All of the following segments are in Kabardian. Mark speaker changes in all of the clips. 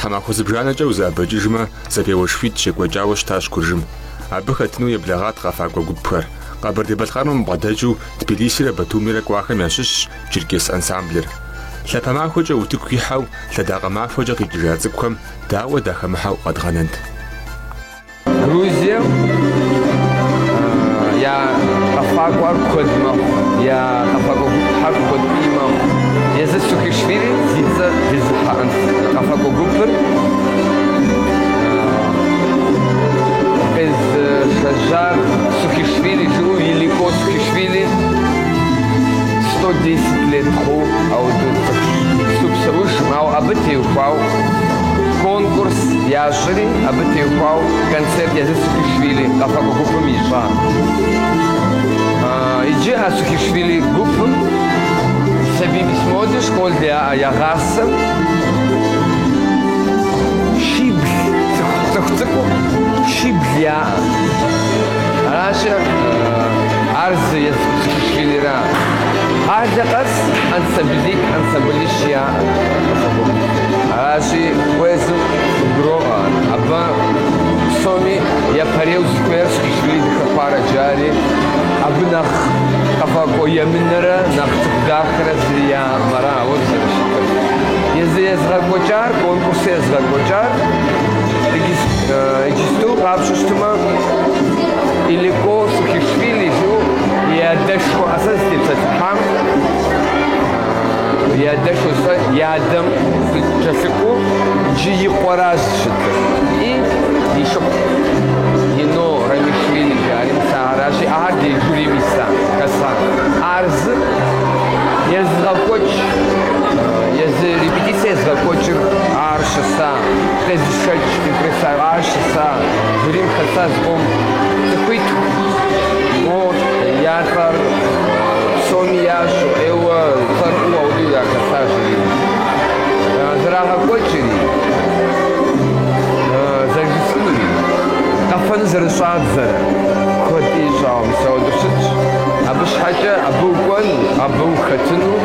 Speaker 1: Тхьэмахуэ зыбжанэкӏэ узэӏэбэкӏыжмэ, зэпеуэшхуитӏ щекӏуэкӏауэ щытащ Куржым. Абы хэтыну еблэгъат къэфакӏуэ гупхэр. Къэбэрдей-Балъкъэрым бгъэдэкӏыу Тбилисирэ Батумирэ кӏуахэм ящыщщ Черкес ансамблыр. Лъапэ махуэкӏэ утыку ихьэу, лъэдакъэ махуэкӏэ къикӏыжа цӏыкӏухэм дауэ дахэмыхьэу къэдгъэнэнт.
Speaker 2: Грузием я къэфакӏуэр куэд мэхъу, я къэфакӏуэ гупхэр куэд ӏей мэхъу. Езы Сухишвили зи цӏэр зезыхьэ къэфакӏуэ гупыр къезышэжьар Сухишвили жыӏэу Илико Сухишвили сто десять лет хъу, ауэ иджысту псэужым, ауэ абы теухуауэ конкурс ящӏ. Щӏыри абы теухуауэ концерт езы Сухишвили къэфакӏуэ гупым ищӏа. Иджы а Сухишвили гупым сабий письмоди школ яӏэ ягъасэу щибл, цӏыху цӏыкӏу щибл яӏэ. Аращи, ар зы езы Сухишвилира. Къалэ къэс ансамблитӏ, ансамблищ яӏэ. Аращи, уэ езым Гуроӏуэ ар. Абы псоми япэрейуэ зыхуейр Сухишвили дыхэхуарэ жари, абы нэхъ къэфакӏуэ емынэрэ нэхъ цӏыху дахэрэ зыри яӏэм ара ауэ зэрыщытыр. Езы езыгъэкӏуэкӏар, конкурсыр езыгъэкӏуэкӏар иджысту къапщтэу щытмэ, Илико Сухишвили жыӏэу и адэшхуэ а сэ сызытепсэлъыхьам, И адэшхуэщ ар, и адэм кӏэлъыкӏуэу иджы и къуэращ щытыр. И ди шыпхъу Нино Рамишвили жари мис аращи, ахэр ди жюрим иса, хэса. Ар зы езыгъэкӏуэкӏ, езы репетицэ езыгъэкӏуэкӏыр ар щыса, къезышэкӏ импрессар ар щыса, жюрим хэса зыкъом цӏыхуитху. Мо а тӏур Псоми ящӏэу, ӏейуэ цӏэрыӏуэу ауэдэу яхэса жюрим. Зэрагъэкӏуэкӏри, зэрыжысӏэнури, къэфэну зэрыщӏадзэрэ куэд ищӏауэ, мис ауэдэу щытщ. Абы щхьэкӏэ абы укӏуэну, абы ухэтыну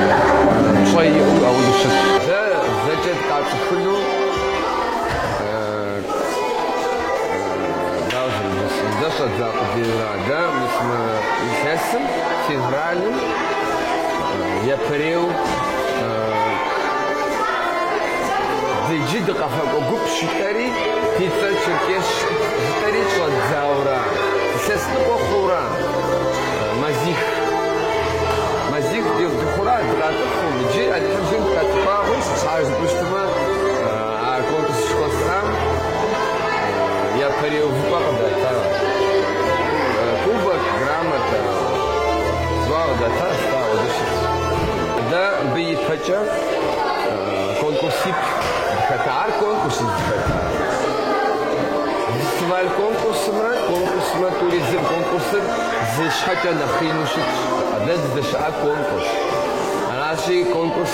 Speaker 2: пщӏэ иӏэу ауэдэу щытщ. Дэ зэкӏэ дыкъацӏыхуну, дауэ зэрыжысӏэн, дэ щӏэддза къудейуэ ара? Дэ мис мы илъэсым, февралым, япэрейуэ дэ иджы дыкъэфакӏуэ гупщ жытӏэри, ди цӏэр черкесщ жытӏэри щӏэддзауэра, илъэс ныкъуэ хъууэра, мазих. Мазих дыхъууэра, дыкъатӏыхъыу, иджы Алыхьым жиӏэм хэдгъэхъуэнщ, сыт щхьа жыпӏэу щытмэ. А конкурс жыхуэсӏам япэрей увыпӏэ къыдатащ, кубок, грамотэ, зуа къыдатащ, дауэ дыщыщ. Дэ абы ипэкӏэ конкурсиплӏ дыхэтар конкурс дыхэта. Фестиваль конкурсымрэ конкурсымрэ тӏури зыкъым, конкурсыр зы щхьэкӏэ нэхъ ину щытщ. Дэ дыздэщыӏар конкурс. Аращи, конкурс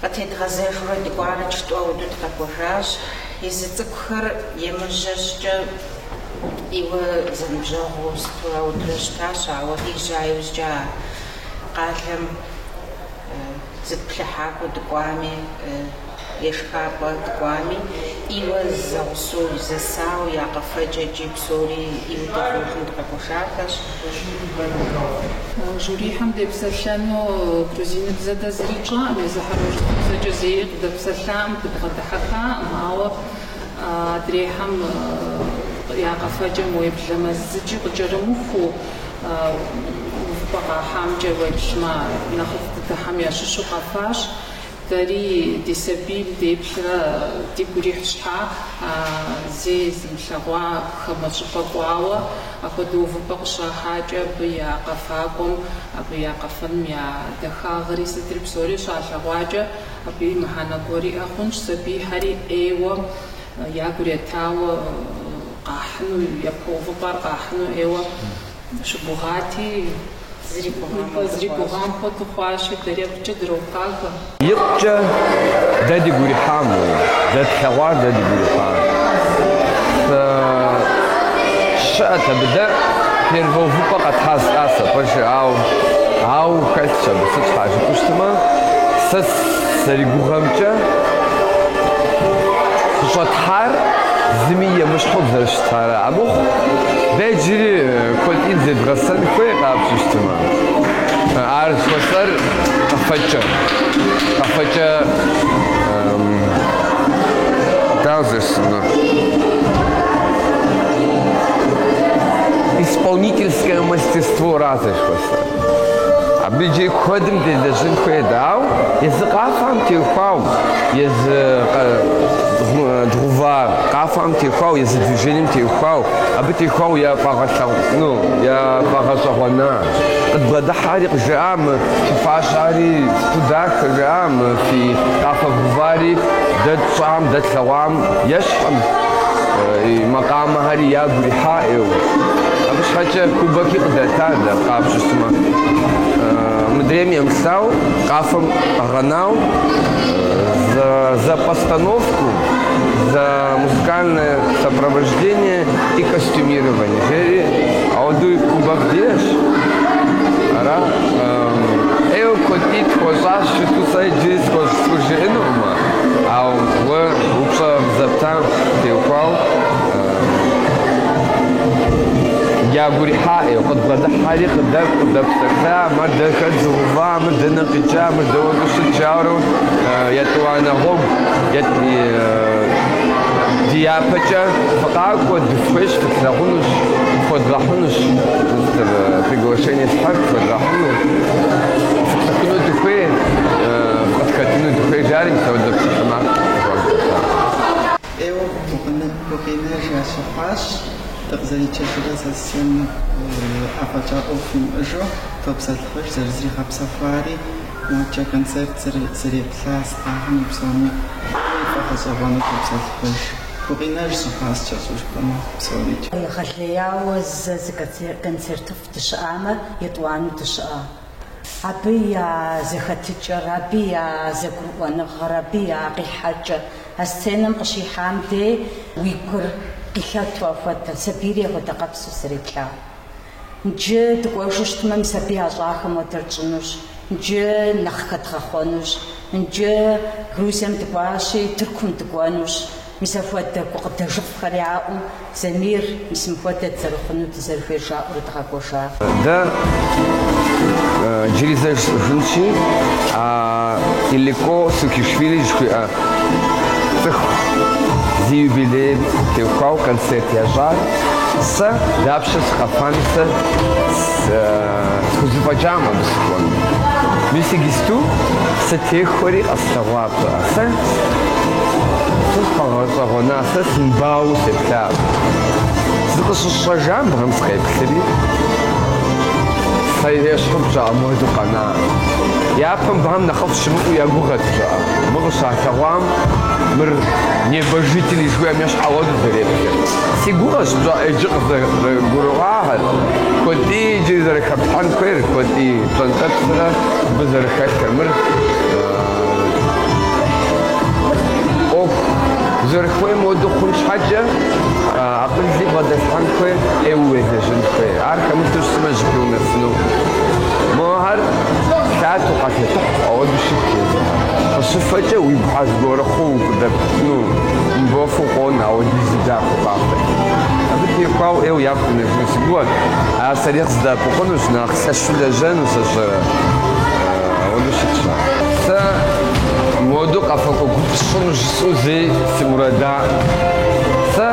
Speaker 3: Къытедгъэзэжурэ дыкӏуарыкӏ тӏуэу дыкъэкӏуэжащ. Езы цӏыкӏухэр емыжьэ щӏыкӏэ ӏейуэ зэныбжьэгъуу сыту аутрэ щытащ, ауэ къежьа иужькӏэ а къалэм зыплъыхьакӏуэ дыкӏуами, ешхапӏэ дыкӏуами, ӏейуэ зэгъусэу, зэсауэ, я къэфэкӏэкӏи, Псори ӏейуэ дыгуфӏэжу
Speaker 4: дыкъэкӏуэжахэщ. Жюрихэм депсэлъэну грузиныбзэ дэ зыри тщӏакъым, езыхэр урысыбзэкӏэ зэи къыдэпсэлъакъым, дыбгъэдыхьэххакъым, ауэ адрейхэм я къэфэкӏэм уеблэмэ зыкӏи къыкӏэрымыхуу, увыпӏэ къахьамкӏэ уеплъмэ, нэхъыфӏ дыдэхэм ящыщу къэфащ. Дэри ди сабийм деплърэ дигу ирихь щхьа, а зэи зымылъэгъуа хамэ щӏыпӏэ кӏуауэ, апхуэдэ увыпӏэ къыщахьакӏэ абы я къэфакӏуэм, абы я къэфэным я дахагъри сытри псори щалъэгъуакӏэ, абыи мыхьэнэ гуэр иӏэ хъунщ, сабийхэри ӏейуэ, ягур етауэ къахьыну, япэ увыпӏэр къахьыну ӏейуэ. Щыгугъати, зэрыгугъам
Speaker 2: хуэдэу хъуащи, дэри икъукӏэ дропагэ. Икъукӏэ дэ дигу ирихьам, дэ тлъэгъуар дэ дигу ирихьам. Щыӏэт абы, дэ первэ увыпӏэ къэтхьа жысӏа щхьа пэжыр, ау, ау, хэлъщ абы, сыт щхьа жыпӏэу щытмэ, сэ сызэригугъэмкӏэ, къыщӏэтхьар зыми емыщхьу Ара, амыхъу, дэ иджыри куэдым зедгъэсэн хуейщ къапщтэу щытмэ, ар жыхуэсӏэр къэфэкӏэ, къэфэкӏэ, дауэ жысӏэнур, исполнительское мастерство-ра жыхуэсӏэр. Абы иджы куэдым делэжьын хуейт, ауэ езы къафэм теухуау, езы дгъэува къафэм теухуау, езы движением теухуау, абы теухуау яфӏэгъэлъэгъуну, яфӏэгъэщӏэгъуэна. Къыдбгъэдыхьэри къыджаӏа, мы фи фащэри сыту дахэ жаӏа, мы фи къафэ гъэувари дэ тщӏам, дэ тлъэгъуам ещхькъым, и макъамэхэри ягу ирихьаӏэу. Абы щхьэкӏэ кубоки къыдата дэ къапщтэ щытмэ. Мыдрейм емылъытау, къафэм къэгъэнау за постановку, за музыкальное сопровождение и костюмирование жери, ауэдуи кубок диӏэщ. Ара, ӏейуэ куэд дыдэ тхуэщӏащ, щыту сэ иджыри схуэжыӏэнукъым, ауэ уэ упщӏэ зэптам теухуау, Дягурихьаӏи, къыдбгъэдыхьэри, къыдэкӏу, къыдэпсэлъа, мыр дэ хэт зыгъэува, мыр дэнэ къикӏа, мыр дауэ щыт, жаурэ етӏуанэ гъуэгу дяпэкӏэ фыкъакӏуэ, дыфхуейщ, фытлъагъунущ, фхуедгъэхьынущ, приглашение щхьэхуэ фхуедгъэхьыну, фыпсыхуну дыхуей, фыкъытхэтыну дыхуей, жари мис ауэдэ псалъэмакъ хуагъэфэщар.
Speaker 5: Ӏейуэ гукъинэж ящыхъуащ, дыкъызэрикӏыжрэ сессием афӏэкӏа ӏуэху имыӏэжу топсэлъыхьыж, зэрызригъэпсэхуари моджэ концерт зэреплъа сытхэми псоми яфӏэгъэщӏэгъуэну топсэлъыхьыж. Гукъинэж щыхъуащкӏэ щӏушхуэм псори. Егъэлеяуэ
Speaker 6: зэ зы концертыфӏ дыщыӏамэ, етӏуанэу дыщыӏа. Абы я зэхэтыкӏэр, абы я зэгурыӏуэныгъэр, абы я къихьэкӏэр. А сценэм къыщихьам дей уи гур къилъэту апхуэдэ сабийри егъэдакъэпсу зэреплъар. Нджы дыкӏуэжу щытмэ, мы сабий ящӏахэм хуэдэр тщӏынущ, нджы нэхъ хэдгъэхъуэнущ, нджы Грузием дыкӏуащи, Тыркум дыкӏуэнущ, Мис апхуэдэ гукъыдэжыфӏхэр яӏэу, Замир, мис мыхуэдэ дызэрыхъуну дызэрыхуейр
Speaker 2: жаӏэурэ дыкъэкӏуэжа. Дэ джыри зэ жысӏэжынщи, а Илико Сухишвили жыхуиӏэ цӏыху зи юбилейм теухуауэ концерт ящӏар сэ дапщэ сыкъэфами, сэ схузэфӏэкӏакъым абы сыкӏуэну. Мис иджысту сытехуэри къэслъэгъуакъэ. Сэ сфӏэгъэщӏэгъуэна, сэ сымбауэу сеплъа. Зыкъыщысщӏэжам быхэм сыкъеплъри, сэ ещхьу пщӏа муэду къэна. Япэм быхэм нэхъыфӏ щымыӏэу я гугъэт пщӏа. Мы къыщалъэгъуам мыр небожители жыхуиӏэм ещхь хуэду зэреплъыр. Си гугъэщ пщӏа иджы къызэрыгурыӏуахэр, куэд ӏей иджыри зэрыхэплъхьэн хуейр, куэд ӏей пщӏэнтӏэпсрэ абы зэрыхэлъыр. Мыр. ӏуэху зэрыхуейм хуэдэу хъун щхьэкӏэ, акъыли бгъэдэлъхьэн хуейр ӏейуэ уелэжьын хуей. Ар хэмыту щытмэ, зыпӏи унэсыну. Мохьэр лъатэу къэлъэтыхь, ауэдэу щыткъым. Къыщыфэкӏэ, уи гухьэр зыгуэр хъууэ укъыдэпкӏыну мыбофу къону, ауэдизу дахэу къафэт. Абы теухуауэ ӏейуэ япэ унэсыну си гугъэт. Ар сэри къыздэӏэпыкъунущ, нэхъ лъэщу лэжьэну сэ сщӏэрэ? Ауэдэу щытщ. Сэ моду къэфакӏуэ гуп сщӏыну жысӏэу зэи си мурадаӏым. Сэ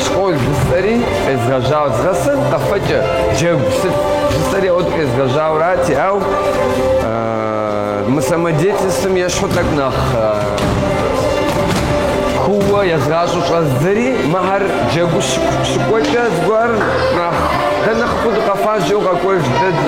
Speaker 2: школ жысӏэри къезгъэжьауэ згъэсэн къэфэкӏэ, джэгу сыт жысӏэри ауэдэу къезгъэжьауэрати, ау мы самодеятельствэм ещхьу тӏэкӏу нэхъ кууэ езгъащӏэу щӏэздзэри, мыхьэр джэгуу щыкӏуэкӏэ зыгуэр нэхъ дэ нэхъыфӏу дыкъэфащ, жеу къэкӏуэж дэ.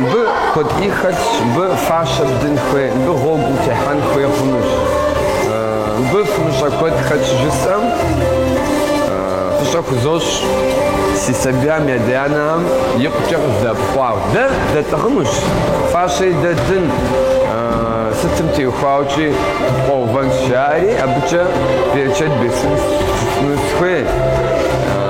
Speaker 2: Мыбы куэд ӏей хэлъщ, мыбы фащэ бдын хуей, мыбы гъуэгу утехьэн хуей хъунущ. Мыбы фымыщӏэ куэд хэлъщ жысӏэм, фӏыщӏэ хузощӏ си сабийм ядэ-анэхэм икъукӏэ къыздэӏэпыкъуауэ. Дэ дэтӏыгъынущ, фащэри дэ ддын, сытым теухуаукӏи дыпкъуэувэнщ, жаӏэри абыкӏэ берычэт бесын жысӏэну сыхуей.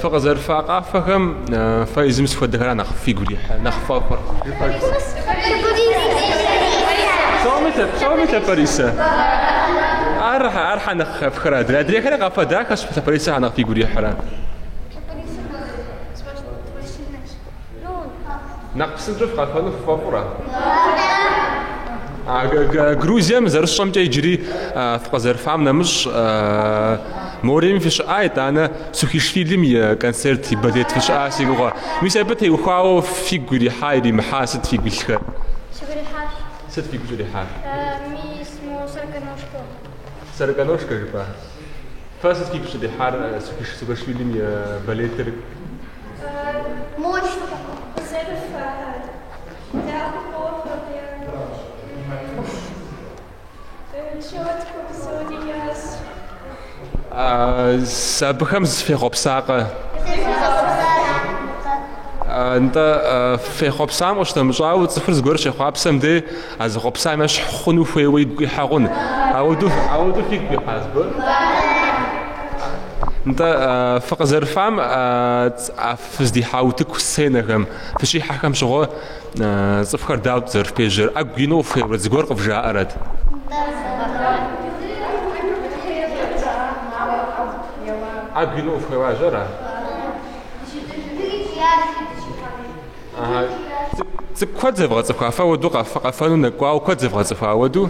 Speaker 1: Фыкъызэрыфа къафэхэм фэ езым сыт хуэдэхэр нэхъ фигу ирихь, нэхъ ффӏэфӏыр. Псоми лъэ, псоми лъапэрисэ. Ар ар хьэ нэхъ хэфхэр адрей. Адрейхэр къафэ дахэ лъапэрисэхэр нэхъ фигу ирихьрэ. Нэхъ псынщӏэу фыкъэфэну ффӏэфӏрэ? Грузием зэрысщӏэмкӏэ иджыри фыкъызэрыфам нэмыщӏ мореми фыщыӏа, итӏанэ Сухишвилим и концерт, и балет фыщыӏа си гугъэ. Мис абы теухуауэ фигу ирихьа, иримыхьа сыт фигу илъхэр? Сигу
Speaker 7: ирихьащ. Сыт фигу
Speaker 1: щӏрихьар? Мис
Speaker 7: мо сороконожка.
Speaker 1: Сороконожка жыпӏа? Фэ сыт сигу щыдихьар Саакашвилим и балетыр? Мо къызэрыфаӏар, дахэ
Speaker 7: къохъур,
Speaker 1: четко псори ящӏ. Абыхэм зэ фехъуэпсакъэ? Зэ фехъуэпсакъэ. Нтӏэ, фехъуэпсам къыщынэмыщӏауэ, цӏыхур зыгуэр щехъуапсэм дей, А зэхъуэпсам ещхь хъуну хуейуэ игу къихьэ хъун. Апхуэдэу, апхуэдэу фигу къихьа зыгуэр? Нтӏэ, фыкъызэрыфам фыздихьа утыку сценэхэм, фыщихьэхэм щыгъуэ цӏыхухэр дауэт зэрыфпежьэр? ӏэгу ину къыфхуеуэрэт зыгуэр къывжаӏэрэт? ӏэгу ину къыфхуеуажьэра? Цӏыкӏу куэд зэвгъэцӏыхуа фэ апхуэдэу къэфэну нэкӏуауэ куэд зэвгъэцӏыхуа апхуэдэу?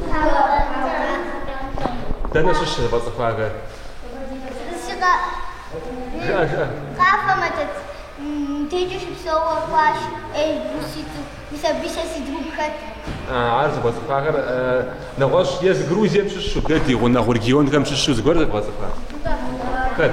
Speaker 1: Дэнэ щыщ зэвгъэцӏыхуахэр? Жыӏэ,
Speaker 7: жыӏэ. Къафэмэ дэт декӏэ щыпсэуэ куащ ӏейбу ситу, мис абы сэ си друг хэт.
Speaker 1: Ар зэвгъэцӏыхуахэр нэгъуэщӏ езы Грузием щыщу, дэ ди гъунэгъу регионхэм щыщу зыгуэр зэвгъэцӏыхуа? Хэт?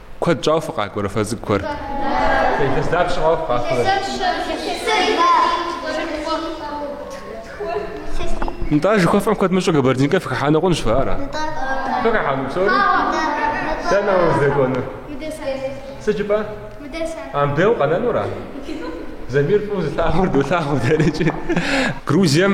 Speaker 1: Куэд щӏауэ фыкъакӏуэрэ фэ цӏыкӏухэр? Илъэс дапщ щӏауэ фыкъакӏуэрэ? Нтӏэ, жыхуэфӏэм куэд мыщӏэу Кабардинкэм фыхыхьэну хъунщ фэ, ара? Фыхыхьэну псори? Дэнэ уэ уздэкӏуэнур? Сыт жыпӏэ? Абдей укъэнэнура? Замир фӏыуэ зылъагъур долъагъу дэрыкӏи. Грузием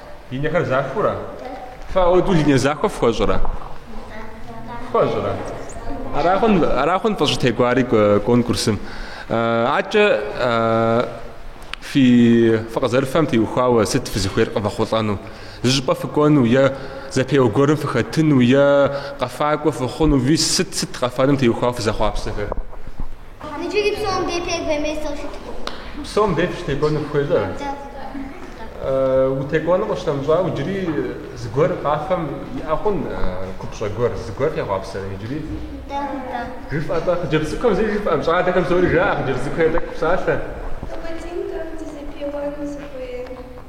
Speaker 1: Линиехэр захуэурэ? Фэ апхуэдэу линие захуэ фхуэщӏрэ? Фхуэщӏрэ? Ара хъун, ара хъун фыщӏытекӏуари конкурсым. Атӏэ фи фыкъызэрыфэм теухуауэ сыт фызыхуейр къывэхъулӏэну? Зыщӏыпӏэ фыкӏуэну е зэпеуэ гуэрым фыхэтыну е къэфакӏуэ фыхъуну, мис сыт сыт къэфэным теухуауэ фызэхъуапсэхэр?
Speaker 7: Иджыри псом дей тек вемей сылъыткъым.
Speaker 1: Псом дей фыщытекӏуэну фыхуейщ? Утекӏуэну къыщтэмыщӏауэ иджыри зыгуэр къафэм иӏэ хъун купщӏэ гуэр, зыгуэр фехъуапсэрэ иджыри? Жыфӏэ-тӏэ, хъыджэбз цӏыкӏухэм зыри жыфӏэркъым, щӏалэхэм псори жаӏэ, хъыджэбз цӏыкӏухэр тӏэкӏу фыпсалъэ. Къэбэрдейм кӏэрыту зэпеуэну сыхуейр.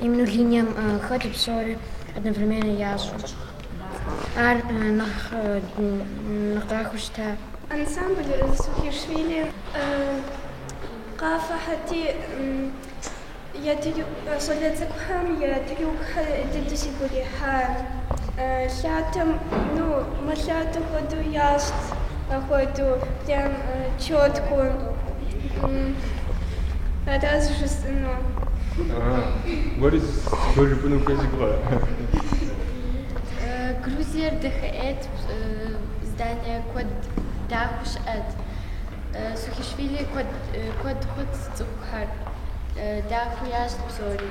Speaker 8: Именно линием хэту псори одновременно ящӏу. Ар нэхъ нэхъ дахэу щыта. Ансамблыр
Speaker 9: Сухишвили къафэхэти, я щӏалэ цӏыкӏухэм я трюкхэр дыдэу сигу ирихьа лъатэм, ну, мэлъатэ хуэдэу ящӏт. Къэхуэду прям чётко ара зыжысӏэну. Уэри
Speaker 1: зыгуэр жыпӏэну ухуей зыгу къэӏэ.
Speaker 8: Грузиер дахэӏейт, здание куэд дахэу щыӏэт. Сухишвили куэд хъут цӏыхухэр дахэу ящӏт псори.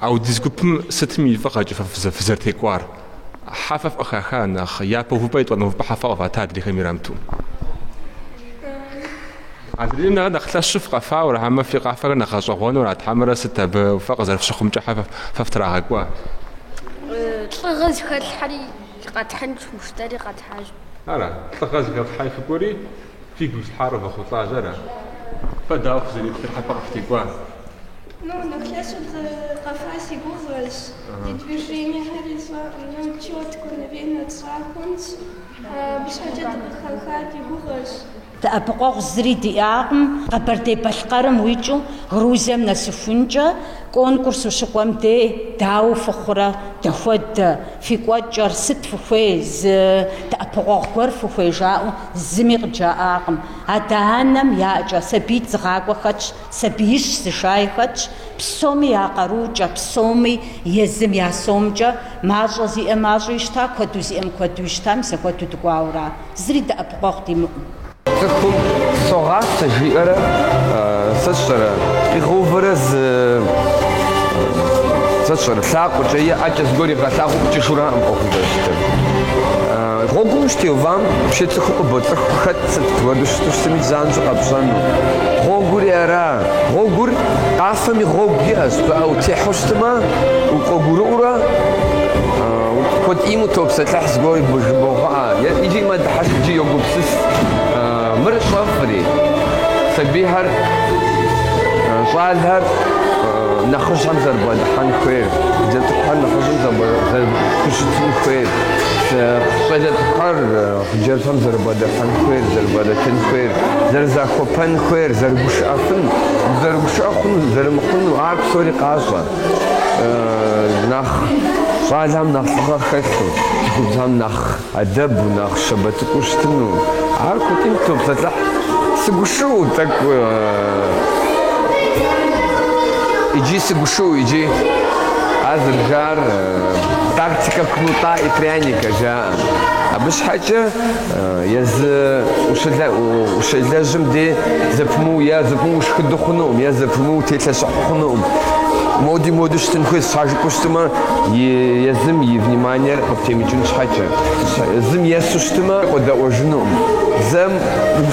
Speaker 1: Ау ди гупым сытым и фӏыгъэкӏэ фэ фызэрытекӏуар? Хьэ фэ фыкъыхаха нэхъ, япэ увыпӏэ етӏуанэ увыпӏэ хьэ фэ къыфата адрейхэм ирамту. Адрейм нэхъ нэхъ лъэщу фыкъэфауэ, ара хьэмэ фи къафэхэр нэхъ гъэщӏэгъуэну арат хьэмэрэ сыт абы фэ къызэрыфщыхъумкӏэ хьэ фэ фытрагъэкӏуа? Лӏыгъэ зыхэтлъхьэри къэтхьынщ
Speaker 8: жытӏэри къэтхьащ. Ара, лӏыгъэ
Speaker 1: зыхэфлъхьэри фыкӏуэри? Фигу ифлъхьар къывэхъулӏащ, ара? Фэ дауэ фызэреплъыр, хьэ фэ къыфытекӏуа? Ну, нэхъ лъэщу дыкъэфа си гугъэщ. Ди
Speaker 9: движениехэри сщӏэкъым. Ну, чётко, наверное тщӏа хъунщ. Абы щхьэкӏэ дыкъыхэха ди гугъэщ.
Speaker 6: Дэӏэпыкъуэгъу зыри диӏакъым Къэбэрдей-Балъкъэрым уикӏыу Грузием нэсыхункӏэ, конкурс ущыкӏуэм дей дауэ фыхъурэ, дэхуэдэ, фи кӏуэкӏэр, сыт фыхуей, зы дэӏэпыкъуэгъу гуэр фыхуей жаӏэу Зыми къыджаӏакъым. Адэ-анэм я ӏэкӏэ сабиитӏ зыгъакӏуэ хэтщ, сабиищ зышай хэтщ, псоми я къаруукӏэ, псоми, езым я сомкӏэ, мащӏэ зиӏэм мащӏэу ищта, куэду зиӏэм куэду ищта, мис апхуэдэу дыкӏуауэ ара. Зыри дэӏэпыкъуэгъу димыӏэу.
Speaker 2: Цӏыхум согъасэ жиӏэрэ, сэ сщӏэрэ, къигъэувэрэ зы, сэ сщӏэрэ, лъакъуэкӏэ е ӏэкӏэ зыгуэр игъэлъагъуу къикӏыжу аракъым ӏуэхум зэрыщытыр. Гъуэгум щытеувам вообще цӏыху къыбоцӏыху хэт сыт хуэдэу щыту щытми занщӏэу къэпщӏэну. Гъуэгури ара? Гъуэгур, къафэми гъуэгу иӏэщ, пыӏэ утехьу щытмэ, угъуэгурыкӏуурэ куэдыӏейм утопсэлъыхь зыгуэр жыбогъэӏэ, икӏи мэдыхьэшх икӏи йогупсыс, мыр щӏэфӏри, сабийхэр, щӏалэхэр нэхъыжьхэм зэрыбгъэдыхьэн хуейр, хъыджэбз цӏыкӏухэр нэхъыжьым зэрыхущытын хуейр. Щӏалэ цӏыкӏухэр хъыджэбзхэм зэрыбгъэдыхьэн хуейр, зэрыбгъэдэтын хуейр, зэрызахуэпэн хуейр, зэрыгушыӏэфын, зэрыгушыӏэ хъуну, зэрымыхъуну, ар псори къащӏэ. Нэхъ щӏалэм нэхъ лӏыгъэ хэлъу, цӏыхубзым нэхъ адэбу, нэхъ щабэ цӏыкӏуу щытыну, ар куэдкӏи топсэлъыхь. Сыгушыӏэу тӏэкӏу иджы, сыгушыӏэу иджы, ар зэрыжаӏэр. Тактика кнута и пряника жаӏэ. Абы щхьэкӏэ езы ущелэжьым де зэпымыу е зэпымыу ушхыду хъунукъым, е зэпымыу телъэщӏыхьу хъунукъым. Моди моду щытын хуейщ, щхьэ жыпӏэу щытымэ, езым и вниманиер къыптемыкӏын щхьэкӏэ. Зым есу щытымэ, къодэӏуэжынукъым. Зэм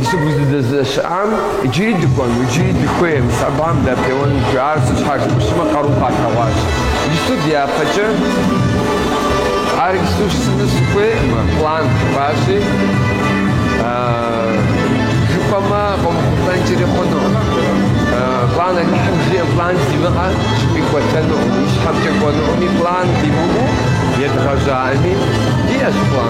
Speaker 2: Дыщыгу зыдэзыщыӏам иджыри дыкӏуэну, иджыри дыхуей, мис абыхэм дапеуэну дыхуей, ар сыт щхьэ жыпӏэу щытмэ къарум къалъэгъуащ. Ису дяпэкӏэ ар ису жысӏэну сыхуейкъымэ, план вообще, жыпӏэмэ къомыхъулӏэнкӏэри хъуну, план Алыхьым жиӏэм план зимыӏэ щӏыпӏи кӏуэтэну, ищхьэмкӏэ кӏуэнукъыми, план димыӏэу едгъэжьаӏэми диӏэщ план.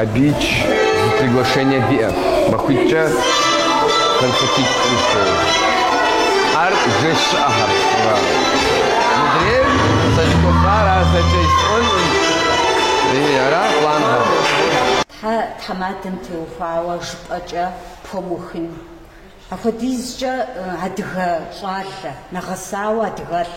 Speaker 2: Абы икӏ зы приглашение диӏэ, махуитӏкӏэ концертитӏ кӏуэдыж хуейуэ. Ар жэщ щыӏэхэр уӏуа? Мыдрейр сэ зыхуэфар ар зэкӏэ исӏуэнкъым. Ара планхэр? Тхьэ
Speaker 6: тхьэмадэм теухуауэ жыпӏэкӏэ пхуэмыухын. Апхуэдизкӏэ адыгэ щӏалэ, нэгъэсауэ адыгэлӏ.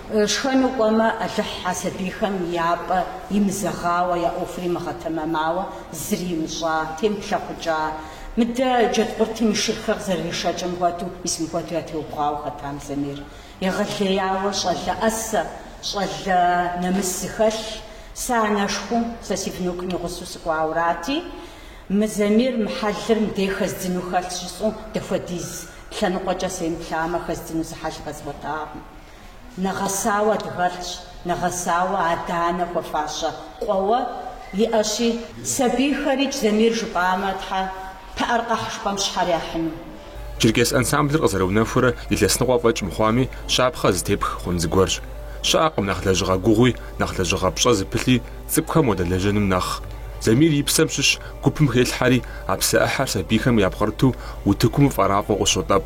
Speaker 6: Шхэну кӏуэмэ, Алыхь а сабийхэм я пӏэ имызэгъауэ, я ӏуэхур имыгъэтэмэмауэ зыри имыщӏа, темыплъэкъукӏа. Мыдэ джэдкъуртым и шырхэр къызэрыришэкӏым хуэдэу, мис мыхуэдэу ятеубгъуауэ хэтам Замир. Егъэлеяуэ щӏалэ ӏэсэ, щӏалэ нэмыс зыхэлъ. Сэ анэшхуэу, сэ си внукым и гъусэу сыкӏуаурати, мы Замир, мы хьэлыр мыдей хэздзыну хэлъщ жысӏэу, дапхуэдиз лъэныкъуэкӏэ семыплъамэ, хэздзыну зы хьэл къэзгъуэтакъым. Нэгъэсауэ адыгэлӏщ, нэгъэсауэ адэ-анэ хуэфащэ къуэуэ иӏэщи. Сабийхэр икӏ Замир жыпӏамэ, Тхьэ, пыӏэр къэхь жыпӏэм щхьэр яхьыну. Черкес
Speaker 1: ансамблыр къызэрыунэхурэ илъэс ныкъуэ фӏэкӏ мыхъуами, щапхъэ зытепх хъун зыгуэрщ. Щыӏэкъым нэхъ лэжьыгъэ гугъуи, нэхъ лэжьыгъэ пщӏэ зыпылъи цӏыкӏухэм уадэлэжьэным нэхъ. Замир и псэм щыщ гупым хелъхьэри, а псэ ӏыхьэр сабийхэм япкърыту утыкум фӏэрафӏэу къыщотӏэп.